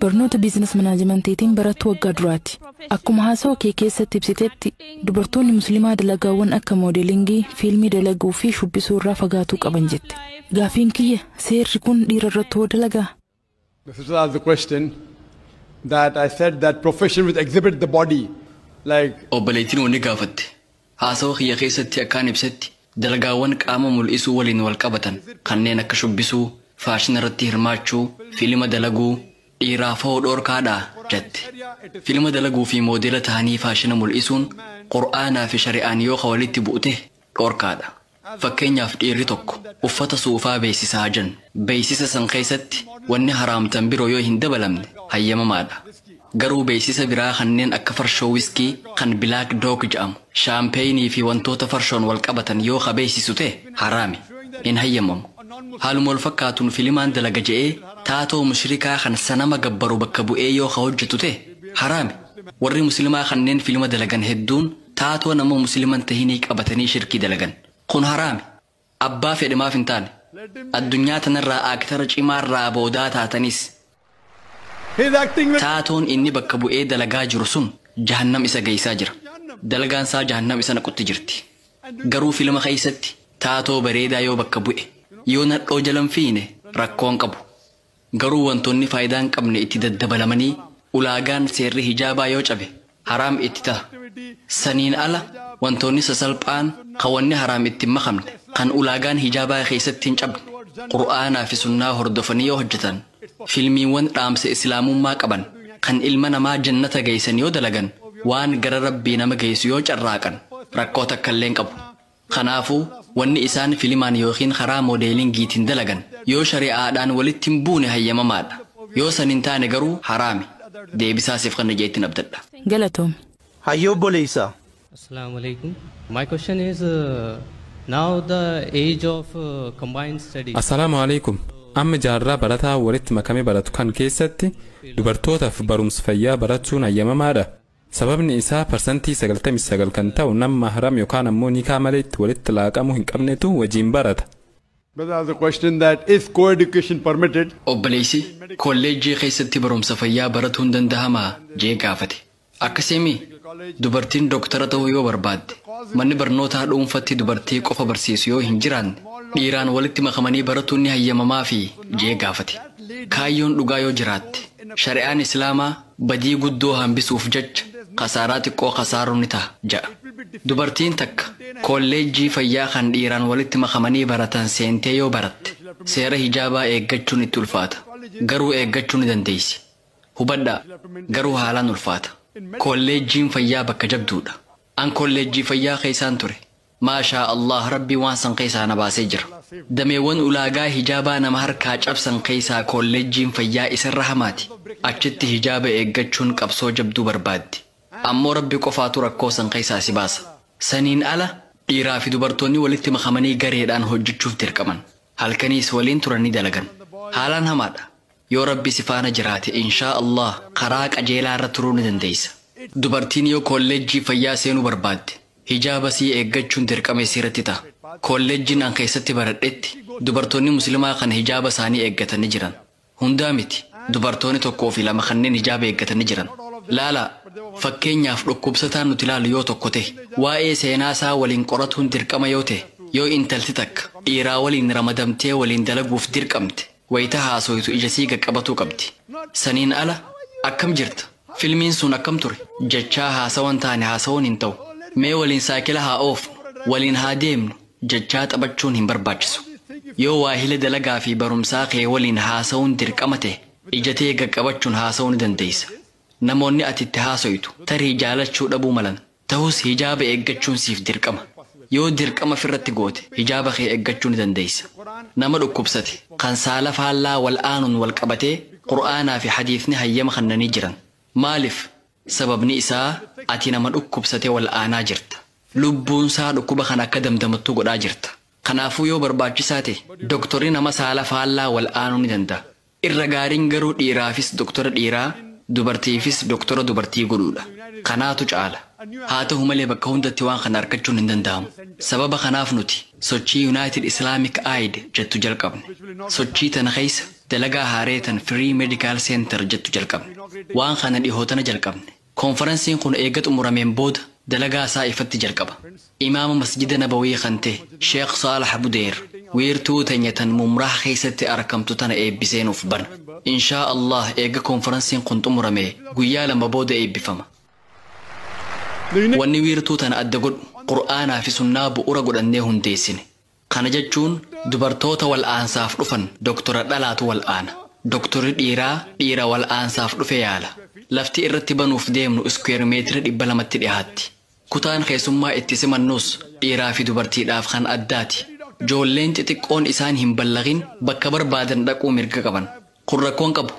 Barnoota Biizines Manaajimantiitiin barattuu waggaa duraati. Akkuma haasawa kee keessatti ibsitetti, dubartoonni Muslimaa dalagaawwan akka moodelingii, fiilmii dalaguu fi shubbisuu irraa fagaatuu qaban jette. Gaafiin kiyya, seerri kun dhiira irratti hoo dalagaa? This is the question that I said that profession which exhibit the body like Obboleettiin wanni gaafatte. Haasawa kiyya keessatti akkaan ibsetti, dalagaawwan qaama mul'isuu waliin wal qabatan kanneen akka shubbisuu, faashina irratti hirmaachuu, fiilima dalaguu, dhiiraaf hoo dhoorkaa dhaa? jette. Fiilima dalaguu fi moodeela tahanii faashina mul'isuun Qur'aanaa fi shari'aan yoo ka walitti bu'u tahe dhoorkaa dha. Fakkeenyaaf dhiirri tokko uffata suufaa beeksisa haa jennu. Beeksisa san keessatti wanni haraamtan biroo yoo hin dabalamne hayyamamaadha. Garuu beeksisa biraa kanneen akka farshoo wiskii kan bilaak doog ja'amu, shaampeeyinii fi wantoota farshoon wal qabatan yoo ka beeksisu ta'e haraami. Hin hayyamamu. Haaluma wal fakkaatuun filimaan dalaga ja'ee taatoo mushrikaa kan sanama gabbaru bakka bu'ee yoo ka hojjatu ta'e haraami. Warri muslimaa kanneen filima dalagan hedduun taatoo nama muslima hin tahinii qabatanii shirkii dalagan. Kun haraami. Abbaa fedhe maaf hin taane. Addunyaa tanarraa aaktara cimaarraa boodaa taatanis. Taatoon inni bakka bu'ee dalagaa jiru sun jahannam isa geeysaa jira. Dalagaan isaa jahannam isa naqutti jirti. Garuu filma keeysatti taatoo bareedaa yoo bakka bu'e, yoo nadhoo jala hin fiiyne rakkoo hin qabu. Garuu wantoonni faayidaa hin qabne itti daddabalamanii ulaagaan seerri hijaabaa yoo cabe haraam itti taha. Saniin ala wantoonni sasalphaan kan wanni haraam itti hin makamne, kan ulaagaan hijaabaa keessatti hin cabne, Qur'aanaa fi sunnaa hordofanii yoo hojjatan, filmiiwwan dhaamsa Islaamummaa qaban kan ilma namaa jannata geessan yoo dalagan, waan gara Rabbii nama geessu yoo carraaqan rakkoo takkallee hin qabu. Kanaafu, wanni isaan filimaan ykn karaa moodeelingiitiin dalagan, yoo shari'aadhaan walitti hin buune hayyamamaadha. Yoo san hin taane garuu haraami. Deebisaa siif kanna je'ettin abdadha. Galatoomi. Hayyee obboleessa. Asalamualaikum. My question is now the age of combined study. Assalaamu Aleeykum. Amma jaarraa barataa walitti makame baratu kan keessatti dubartootaf barumsa fayyaa barachuun hayyamamaadha? Sababni isaa parsantii 99 kan ta'u nam mahram yokaan ammoo nikaa malee itti walitti laaqamuu hin qabnetu wajiin barata. But there was a question that is co-education permitted? Obboleessi, Kolleejjii keessatti barumsa fayyaa baratuun dandahamaa? jee gaafate. Akkasii mii? Dubartiin doktara ta'uu yoo barbaadde, manni barnootaa dhuunfatti dubartii qofa barsiisu yoo hin jiraanne, dhiiraan walitti makamanii baratuun ni hayyamamaafii? jee gaafate. Kaayyoon dhugaa yoo jiraatte, shari'aan Islaamaa Badii guddoo hambisuuf jecha kasaaraa xiqqoo kasaaruun ni taha ja'a. Dubartiin takka koolleejjii fayyaa kan dhiiraan walitti makamanii baratan seentee yoo baratte seera hijaabaa eeggachuun itti ulfaata. Garuu eeggachuu ni dandeessi. Hubadhaa, garuu haalaan ulfaata. Koolleejjiin fayyaa bakka jabduudha. An koolleejjii fayyaa keessaan ture. Maashaa Allaah Rabbiin waan san keessaa na baasee jira. Dameewwan ulaagaa hijaabaa nama harkaa cabsan keessaa koolleejjiin fayyaa isarra hamaati. Achitti hijaaba eeggachuun qabsoo jabduu barbaaddi. Ammoo Rabbi qofaatu rakkoo san keessaa si baasa. Saniin ala dhiiraa fi dubartoonni walitti makamanii gareedhaan hojjachuuf dirqaman. Halkaniis waliin turanii dalagan. Haalaan hamaadha. Yoo Rabbi si faana jiraate inshaa Allaah karaa qajeelaa irra turuu ni dandeessa. Dubartiin yoo koolleejjii fayyaa seenuu barbaadde hijaaba isii eeggachuun dirqama isii irratti taha. Koolleejjiin an keessatti baradhetti dubartoonni muslimaa kan hijaaba isaanii eeggatan ni jiran. Hundaa miti, dubartooni tokkoo fi lama kanneen hijaaba eeggatan ni jiran. Laalaa! Fakkeenyaaf dhukkubsataan nuti laallu yoo tokko tahe, waa'ee seenaa isaa waliin qoratuun dirqama yoo tahe, yoo intalti takka dhiiraa waliin ramadamtee waliin dalaguuf dirqamte, Wayita haasoytu ija sii qaqqabatuu qabdi. Saniin ala, Akkam jirta? Filmiin sun akkam ture? jechaa haasawan taane haasawuun hin ta'u. Mee waliin saayikila haa oofnu, waliin haa deemnu jechaa taphachuun hin barbaachisu. Yoo waahila dalagaa fi barumsaa kee waliin haasawuun dirqama ta'e, ija tee qaqqabachuun haasawuu ni dandeessa. Namoonni ati itti haasoytu tarii jaalachuu dhabuu malan. Tahus hijaaba eeggachuun siif dirqama. Yoo dirqama firratti goote hijaaba kee eeggachuu ni dandeessa. Nama dhukkubsate, kan saala faallaa wal aanuun wal qabatee Qur'aanaa fi hadiisni hayyama kannanii jiran. Maalif? Sababni isaa ati nama dhukkubsate wal aanaa jirta. Lubbuunsaa dhukkuba kana akka damdamattu godhaa jirta. Kanaafuu yoo barbaachisaa tahe doktorri nama saala faallaa wal aanuu ni danda'a. Irra gaariin garuu dhiiraafis doktora dhiiraa, dubartiifis doktora dubartii godhuudha. Kanaatu caala. Haa tahu malee bakka hundatti waan kana arkachuun hin danda'amu. Sababa kanaaf nuti sochii United Islamic Aid jettu jalqabne. Sochii tana keessa dalagaa haaree tan Free Medical Center jettu jalqabne. Waan kana dhihootana jalqabne. Konfaransiin kun eega xumurameen booda dalagaa isaa ifatti jalqaba. Imaama Masjida Nabawii kan tahe Sheekh Saalax Budeer wiirtuu teenya tan Mumraah keessatti arkamtu tana eebbisee nuuf bana. Inshaa Allaah eega konfaransiin kun xumuramee guyyaa lama booda eebbifama. Wanni wiirtuu tana adda godhu Qur'aanaa fi Sunnaa bu'ura godhannee hundeessine. Kana jechuun dubartoota wal'aansaaf dhufan doktora dhalaatu wal'aana. Doktorri dhiiraa dhiira wal'aansaaf dhufe yaala. Lafti irratti banuuf deemnu iskuweer meetira 200tti dhihaatti. Kutaan keessummaa itti simannus dhiiraafi dubartiidhaaf kan addaati. Joolleen xixiqqoon isaan hin ballaghin bakka barbaadan dhaquu mirga qaban. Kun rakkoo hin qabu.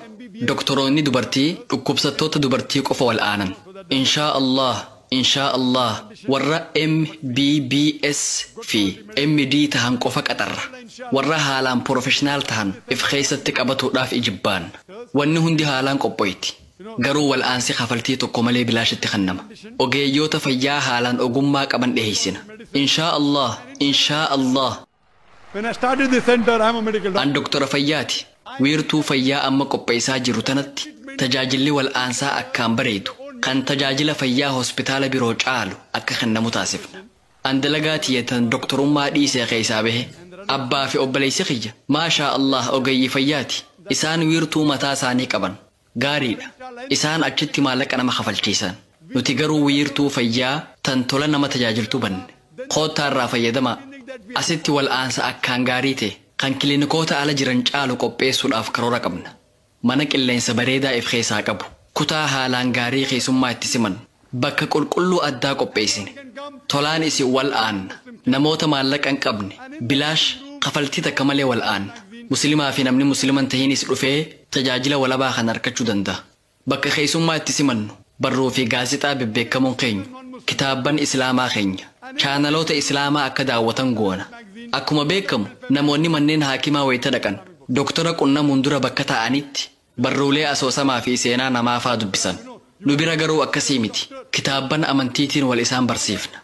Doktoroonni dubartii dhukkubsattoota dubartii qofa wal'aanan. Inshaa Allaah, Inshaa Allaah warra MBBS fi MD tahan qofa qaxarra. Warra haalaan porofeshinaal tahan if keessatti qabatuudhaaf ijibbaan. Wanni hundi haalaan qophoyti. Garuu wal'aansi kafaltii tokko malee bilaashitti kannama. Ogeeyyoota fayyaa haalaan ogummaa qaban dhiheessina. Inshaa Allaah, Inshaa Allaah. An doktora fayyaati. Wiirtuu fayyaa amma qopheessaa jiru tanatti tajaajilli wal'aansaa akkaan bareedu, kan tajaajila fayyaa hospitaala biroo caalu akka kennamu taasifna. An dalagaa tiyya tan doktorummaa dhiisee keessaa bahe. Abbaa fi obboleessi kiyya, maashaa Allaah ogeeyyii fayyaati. Isaan wiirtuu mataa isaanii qaban. Gaariidha. Isaan achitti maallaqa nama kafalchiisan. Nuti garuu wiirtuu fayyaa tan tola nama tajaajiltu banne. Koottaa irraa fayyadamaa. Asitti wal'aansa akkaan gaarii ta'e, kan kilinikoota ala jiran caalu qopheessuudhaaf karoora qabna. Mana qilleensa bareedaa if keessaa qabu, kutaa haalaan gaarii keessummaa itti simannu, Bakka qulqulluu addaa qopheessine. Tolaan isin wal'aanna. Namoota maallaqa hin qabne, bilaash, kafaltii takka malee wal'aanna. Muslimaa fi namni Muslima hin tahinis dhufee tajaajila walabaa kana arkachuu danda'a. Bakka keessummaa itti simannu, barruu fi gaazexaa bebbeekkamoon keenyu, kitaabban Islaamaa keenya, chaanaloota Islaamaa akka daawwatan goona. Akkuma beekkamu, namoonni manneen haakimaa wayita dhaqan, doktora qunnamuun dura bakka taa'anitti Barruulee asoosamaa fi seenaa namaa faa dubbisan. Nu bira garuu akkasii miti. Kitaabban amantiitiin wal isaan barsiifna.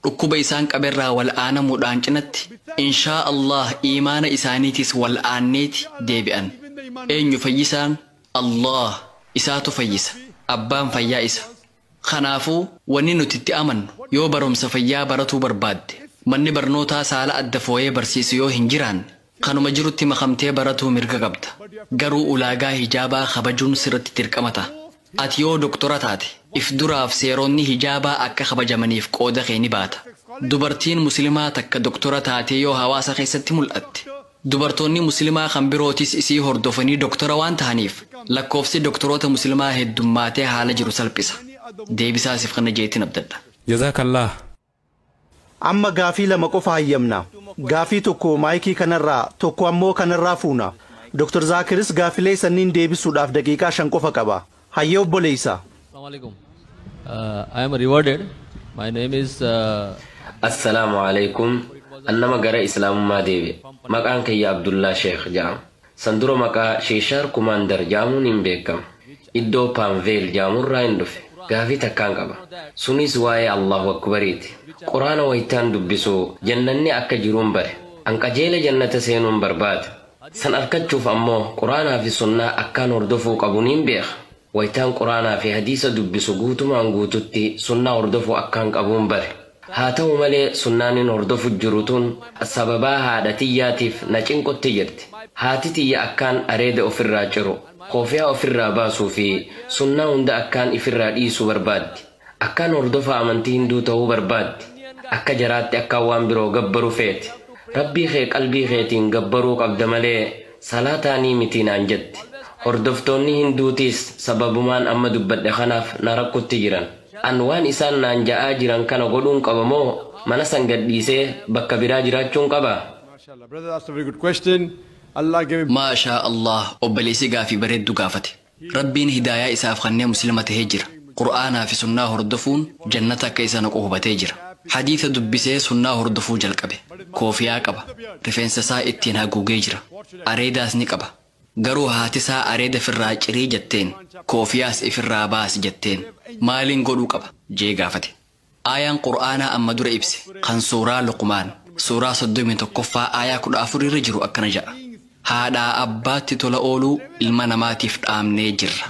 Dhukkuba isaan qaberraa wal'aanamuudhaan cinatti, inshaa Allaah iimaana isaaniitiis wal'aanneeti deebi'an. Eenyu fayyisaan? Allaah. Isaatu fayyisa. Abbaan fayyaa Isa. Kanaafuu, wanni nuti itti amannu, yoo barumsa fayyaa baratuu barbaadde, manni barnootaa saala adda fooyee barsiisu yoo hin jiraanne, kanuma jirutti makamtee baratuu mirga qabda. Garuu ulaagaa hijaabaa kabajuun sirratti dirqama taha. Ati yoo doktora taate, if duraaf seeronni hijaabaa akka kabajamaniif qooda kee ni baata. Dubartiin Muslimaa takka doktora taatee yoo hawaasa keessatti mul'atte, Dubartoonni Muslimaa kan birootis isii hordofanii doktara waan tahaniif lakkoofsi doktoroota Muslimaa heddummaatee haala jiru salphisa. Deebisaa siif kenna je'eetin abdadha. Jazaakallaah. Amma gaafii lama qofa hayyamna. Gaafii tokko maayikii kanarraa, tokko ammoo kanarraa fuuna. Dr. Zaakiris gaafilee sanniin deebisuudhaaf daqiiqaa shan qofa qaba. Hayyee obboleessa. Assalamu alaikum. Uh, I am rewarded. My name is uh, Assalaamu alaikum. An nama gara Islaamummaa deebi'e. Maqaan kiyya Abdullaa Sheekh ja'ama. San dura maqaa Sheeshaar Kumaandar ja'amuun hin beekama. Iddoo Paanveel ja'amurraa hin dhufe. Gaafii takkaan qaba. Sunis waa'ee Allahu Akbariiti. Quraana waytaan dubbisu jannanni akka jiruun bare. An qajeela jannata seenuun barbaada. San arkachuuf ammoo Qur'aanaa fi Sunnaa akkaan hordofuu qabu niin beeka. Waytaan Qur'aanaa fi Hadiisa dubbisu guutumaan guututti Sunnaa hordofuu akkaan qabuun bare. Haa ta'u malee Sunnaan in hordofu jiru tun sababaa haadha tiyyaatiif na cinqutti jirti. Haati tiyya akkaan areeda ofirraa ciru, koofiyaa ofirraa baasuu fi Sunnaa hunda akkaan ifirraa dhiisu barbaaddi. Akkaan hordofaa amantii hinduu ta'uu barbaaddi, akka jaraatti akkaan waan biroo gabbaru feete. Rabbii kee qalbii keetiin gabbaruu qabda malee salaataanii miti naan jette. Hordoftoonni hinduutiis sababumaan amma dubbadhe kanaaf na rakkutti jiran. An waan isaan naan ja'aa jiran kana godhuun qaba moo mana san gadhiisee bakka biraa jiraachuun qaba? Mashallah brother that's a very good question Allah gave Maashaa Allaah obboleessi gaafii bareeddu gaafate. Rabbiin hidaayaa isaaf kannee muslima tahee jira. Qur'aanaa fi sunnaa hordofuun jannata akka isa naqu hubatee jira. Hadiisa dubbisee sunnaa hordofuu jalqabe. Koofiyaa qaba. Rifeensa isaa ittiin haguugee jira. Areedaas ni qaba. Garuu haati isaa areeda firraa cirii jatteen, koofiyaas ifirraa baasi jatteen. Maaliin godhuu qaba? jee gaafate. Aayaan Qur'aanaa amma dura ibse kan suuraa Luqmaan, suuraa 31ffaa aayaa 14 irra jiru akkana ja'a, Haadhaa abbaatti tola ooluu ilma namaatiif dhaamnee jirra.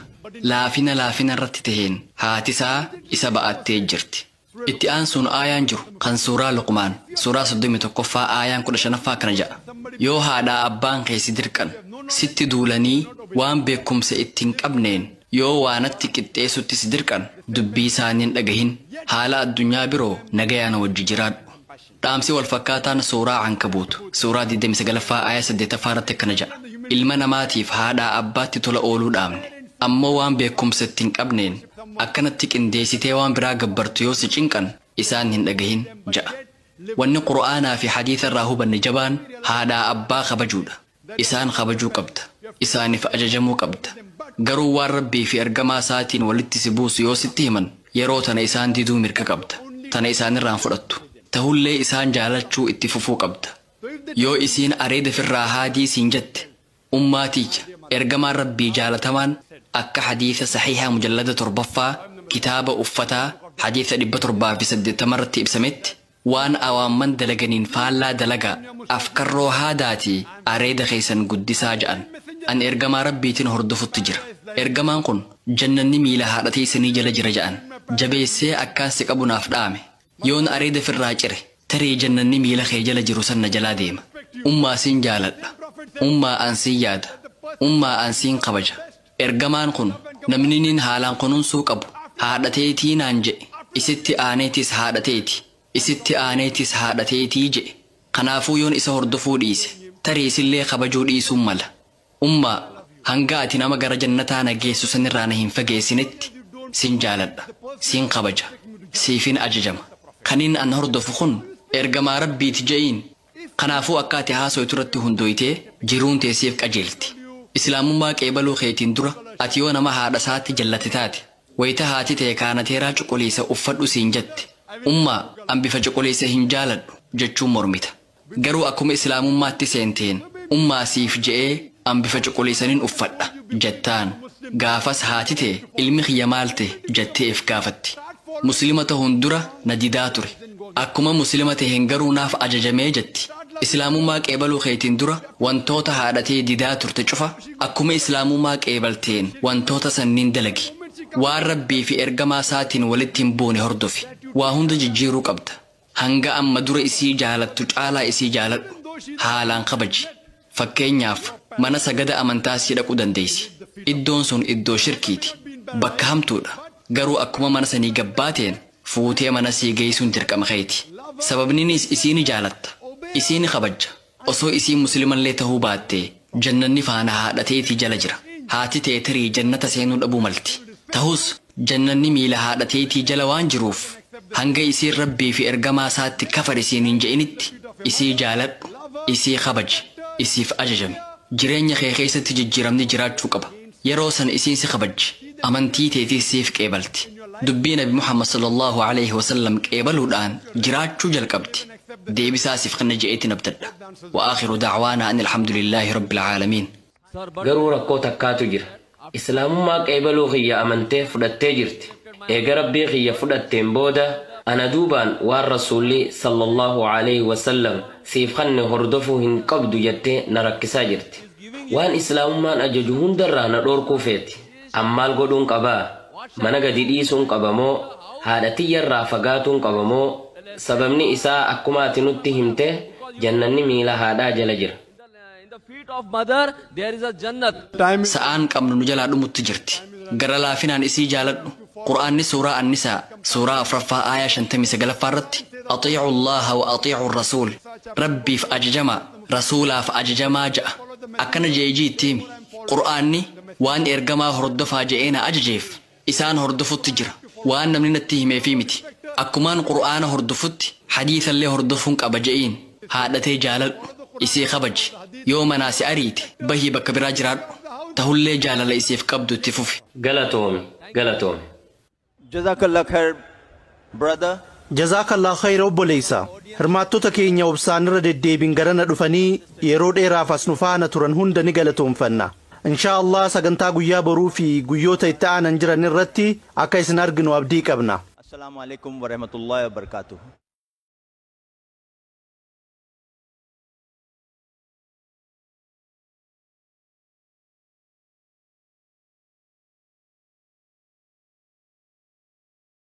Laafina laafina irratti taheen haatisaa isa ba'attee jirti. Itti aansuun aayaan jiru kan suuraa Luqmaan, suuraa 31ffaa aayaan 15ffaa akkana ja'a, Yoo haadhaa abbaan kee si dirqan, sitti duulanii waan beekkumsa itti hin qabneen Yoo waa natti qixxeessutti si dirqan, dubbii isaanii hin dhagahin. Haala addunyaa biroo nagayaan wajji jiraadhu. Dhaamsi wal fakkaataan Suuraa Ankabuut, Suuraa 29ffaa aayah 8ffaa irratti akkana ja'a, Ilma namaatiif haadhaa abbaatti tola ooluu dhaamne. Ammoo waan beekkumsa itti hin qabneen akkanatti qindeessitee waan biraa gabbartu yoo si cinqan isaan hin dhagahin. ja'a. Wanni Qur'aanaa fi Hadiisa irraa hubanne jabaan haadhaa abbaa kabajuudha. Isaan kabajuu qabda. Isaaniif ajajamuu qabda. Garuu waan Rabbii fi Ergamaa Isaatiin walitti si buusu yoo sitti himan, yeroo tana isaan diduu mirga qabda. Tana isaanirraa hin fudhattu. Tahullee isaan jaalachuu itti fufuu qabda. Yoo isiin areeda firraa haadii siin jette, Ummaa tiyya, Ergamaan Rabbii jaalatamaan akka hadiisa sahiiha mujallada torbaffaa, kitaaba Uffataa, hadiisa 780 irratti ibsametti, Waan awaamman dalaganiin faallaa dalagaa, afkarroo haadaatii areeda keessan guddisaa ja'an. An Ergamaa Rabbiitin hordofutti jira. Ergamaan kun, Jannanni miila haadha teeysanii jala jira ja'an. Jabeessee akkaan si qabu naaf dhaame. Yoon areeda firraa cire, tarii Jannanni miila kee jala jiru san na jalaa deema. Ummaa sin jaaladha. Ummaa an sin yaada. Ummaa an siin kabaja. Ergamaan kun, Namni nin haalaan kununsuu qabu haadha teetii naan je'e, isitti aaneetis haadha teeti, isitti aaneetis haadha teetii je'e. Kanaafuu yoon isa hordofuu dhiise, tarii isillee kabajuu dhiisuun mala. Ummaa! Hanga ati nama gara jannataa na geessu sanirraa na hin fageessinetti, sin jaaladha, sin kabaja, siifin ajajama. Kanin an hordofu kun Ergamaa Rabbiiti je'iin. Kanaafuu akka ati haasoytu irratti hundooytee jiruun tee siif qajeelti. Islaamummaa qeebaluu keetiin dura ati yoo nama haadha isaatti jallate taate, wayta haati tee kaanateeraa cuquliisa uffadhu siin jatte, Ummaa, an bifa cuquliisa hin jaaladhu jechuun mormita. Garuu akkuma Islaamummaatti seenteen, Ummaa siif je'ee an bifa cuquliisanin uffadha jattaan. Gaafas haati tee, ilmi kiyya maal tahe? jattee if gaafatti. Muslima tahuun dura na didaa ture. Akkuma Muslima taheen garuu naaf ajajame jetti. Islaamummaa qeebaluu keetiin dura wantoota haadha tee didaa turte cufa akkuma Islaamummaa qeebalteen wantoota sanniin dalagi. Waan Rabbii fi Ergamaa Isaatiin walitti hin buune hordofi. Waa hunda jijjiiruu qabda. Hanga amma dura isii jaalattu caalaa isii jaaladhu. Haalaan kabaji. Fakkeenyaaf, mana sagada amantaa sii dhaquu dandeessi. Iddoon sun iddoo shirkiiti. Bakka hamtuudha. Garuu akkuma mana sanii gad baateen, fuutee mana sii geessuun dirqama keeti. Sababniniis isii ni jaalatta. Isii ni kabajja. Osoo isii muslimallee tahuu baattee, jannanni faana haadha teetii jala jira. Haati tee tarii jannata seenuu dhabuu malti. Tahus, Jannanni miila haadha teetii jala waan jiruuf, hanga isiin Rabbii fi Ergamaa Isaatti kafari siin hin je'initti, isii jaaladhu, isii kabaji, isiif ajajami. Jireenya kee keessatti jijjiiramni jiraachuu qaba. Yeroo san isiin si kabajji, amantii teetiis siif qeebalti. Dubbii Nabi Muhammad sallallaahu aleyhi wasallam qeebaluudhaan jiraachuu jalqabdi. Deebisaa siif kenna je'eetiin abdadha. Wa aakhiru da'waanaa anil hamdu lillaahi rabbil aalamiin. Garuu rakkoo takkaatu jira. Islaamummaa qeebaluu kiyya amantee fudhattee jirti. Eega Rabbii kiyya fudhatteen booda ana duubaan waan Rasuulli, Sallallaahu aleyhi wa sallam, siif kanne hordofuu hin qabdu jattee na rakkisaa jirti. Waan Islaamummaan ajaju hundarraa na dhoorkuu feeti. An maal godhuun qaba? Mana gadi dhiisuun qaba moo? Haadha tiyyarraa fagaatuun qaba moo? Sababni isaa akkuma ati nutti himte jannanni miila haadhaa jala jira. In the feet of mother there is a jannat. Sa'aan qabnu nu jalaa dhumutti jirti. Gara laafinaan isii jaaladhu. Qur'aanni suuraa An-Nisaa, suuraa 4ffaa aayaa 59ffaa irratti, Axiicu Allaaha wa axiicu Ar-Rasuul, Rabbiif ajajamaa, Rasuulaaf ajajamaa ja'a. Akkana je'ii ji'itti himi, Qur'aanni, waan Ergamaa hordofaa je'ee na ajajeef, isaan hordofutti jira. Waan namni natti himeefii miti. Akkumaan Qur'aana hordofutti hadiisallee hordofuun qaba je'iin. Haadha tee jaaladhu. Isii kabaji. Yoo manaa si ariite, bahii bakka biraa jiraadhu. Tahullee jaalala isiif qabdu itti fufi. Galatoomi Galatoomi. Jazakallah khair. brother. Jazaakallah khayra obboleeysa. Hirmaattota keenya obsaan irra deddeebiin garana dhufanii yeroo dheeraaf as nu faana turan hunda ni galatoomfanna. Inshaa Allaah sagantaa guyyaa boruu fi guyyoota itti aanan jiran irratti akka isin arginu abdii qabna. Assalaamu Aleeykum Warahmatullaahi Wabarakaatuh.